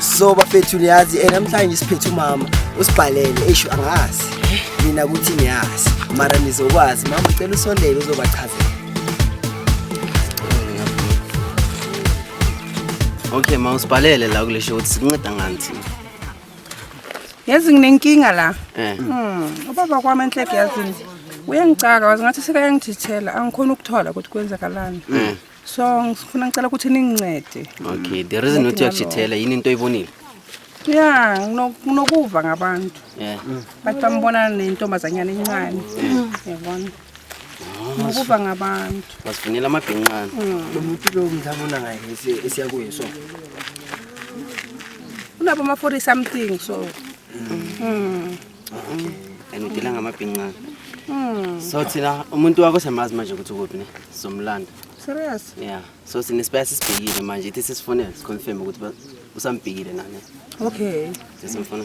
so bafethu niyazi eh, namhlanje siphethe umama usibhalele esho angazi mina ukuthi niyazi mara nizokwazi mama ucela usondele uzobachazela okay ma usibhalele la kule show ukuthi sikunceda ngani thina yazi nginenkinga la Eh. Hmm, ubaba kwami enhleke yazini uyengicaka wazi ngathi sekayangithithela angikhoni ukuthola ukuthi kwenzakalani Eh. so ngifuna ngicela ukuthi ningincede okay the reason not yakujithela yini into oyibonile ya nginokuva ngabantu yeah bathi bambona nentombazanyana encane yabona ngokuva ngabantu basifunela amabhinqana lo muntu lo ngizabona ngaye esiyakuye so unabo ama-40 something so mm. Okay. And udila ngamabhincane. Mm. So thina umuntu wakho siyamazi manje ukuthi ukuphi ne? Somlanda. Serious? Yeah. So sine spare sisibhekile manje ithi sisifonela siconfirm ukuthi ba- usambhekile nani. Okay. Sesimfona.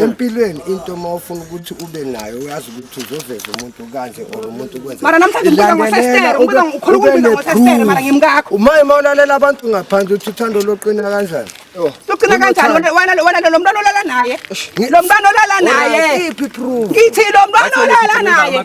empilweni into uma ufuna ukuthi ube nayo uyazi ukuthi uzoveza umuntu kanje or umuntu kwenzeumay uma ulalela abantu ngaphandle uthi uthando loqina kanjani loqina kanjani wena lo mntwana olala naye lo mntwana olala naye ithi lo mntwana olala naye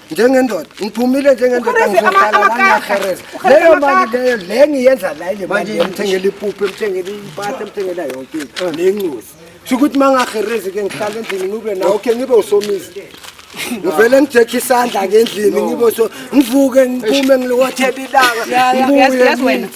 njengendoda ngiphumile njengendoda ngizohlala langahereza leyo mali leyo le ngiyenza la ile mali ngithengela ipuphu emthengela impahla emthengela yonke into eh. nencuzi kusho ukuthi uma ngaherezi ke ngihlala endlini ngibe nawo khe ngibe usomizi ngivele ngijekhe isandla ngendlini ngibe so ngivuke ngiphume ngilowathela ilanga ngibuye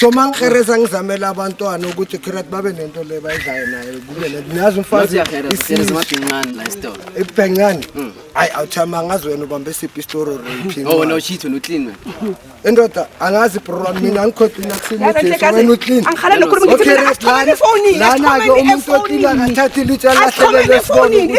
so mangihereza ngizamele abantwana ukuthi kirat babe nento le bayidlayo naye kube le nazi umfazi ebhencane hmm. ayi awuthama ngazi wena ubambe siphi isitoro raping oh no shit wena uclean wena indoda angazi bro mina ngikhohlina kusini wena uclean angikhale nokhuluma ngithi mina akhona ifoni lana ke umuntu oclean akathathi litsha lahlelele ifoni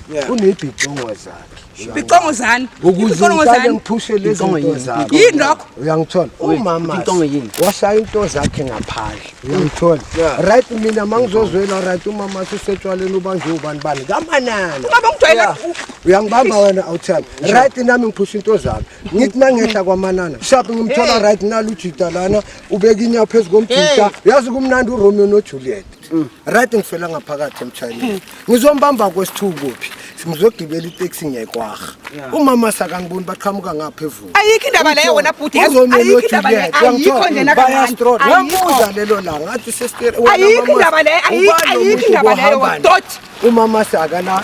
unezidingo zakhe icongo zani icongo zani ngiphushe lezi zinto zakhe yini lokho uyangithola umama icongo yini washaya into zakhe ngaphandle uyangithola right mina mangizozwela right umama sisetshwaleni ubanjwe ubani bani kamanana baba ngijwayela uyangibamba wena awuthanda right nami ngiphusha into zami ngithi nangehla kwamanana shapi ngimthola right nalujita lana ubeka inyapho phezu komjita yazi kumnandi uromeo nojuliet Mm. right ngifela ngaphakathi emshayeleni mm. ngizombamba kwesithuku kuphi ngizogibela iteksi ngiyayikwaha umama sakangiboni baqhamuka ngapha evuka ayikho indaba leyo wena bhuti ayikho indaba leyo ayikho njena kancane wamuza lelo langa athi sesiteri ayikho indaba leyo ayikho indaba leyo dot umama sakana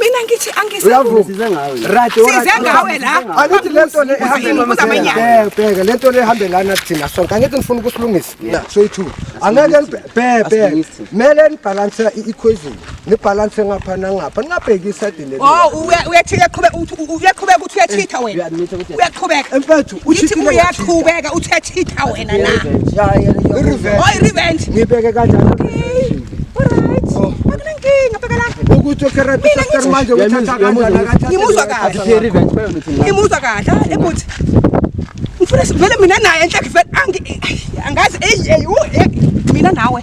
Mina ngithi angisizwe ngawe. Right, right. Size ngawe la. Angithi lento le ehambela. Bheka lento le ehambela na thina sonke. Angithi ngifuna ukusilungisa. Straight to. Angeke ngibhebhe. Mele nibalance i-equation. Nibalance ngapha nangapha. Ningabheki iside leli. Oh, uyathika qhubeka uyathika uyathitha wena. Uyaqhubeka. Mfethu uyithi uyaqhubeka uthethitha wena na oyi revenge ngibeke kanjani oh. ukuthi okeretisastar manje uthatha kanjanimuzwa kahle ngimuzwa kahle ebuthi ngifuna vele mina naye enhle angazi mina nawe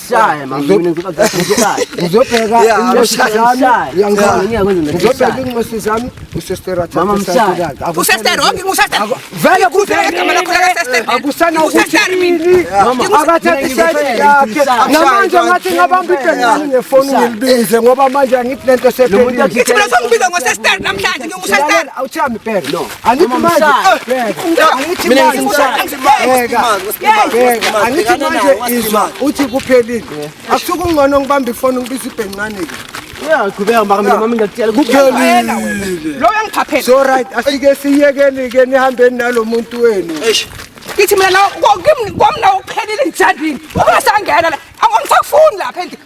Shaya mama mina ngizoba ngizobheka namanje ngathi ngabamba ibhekani ngefoni ngilibize ngoba manje angithi lento sephele Angithi manje angithi manje angithi manje izwa uthi kuphelile akusuke ungcono ngibambe ifoni ngibiza ibhencane ke uyaqhubeka maka mina mami ngiyakutshela kuphelile lo uyangiphaphela so right asike siyekeni ke nihambeni nalo muntu wenu ngithi mina la kwamna uphelile njandini ungasangena la angisakufuni lapha endlini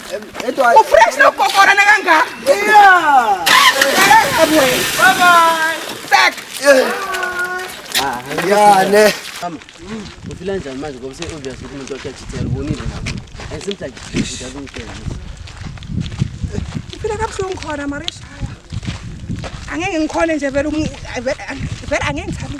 Ufresh na kokora na ganga. Yeah. Bye bye. Back. Ah, yeah, ne. Mama. Ufila njani manje ngoba se obvious ukuthi umuntu wakhe achithela ubonile lapho. And seems like he doesn't care. Ufila kabuhlungu khona Marisha. Angeke ngikhole nje vele vele angeke ngithabe.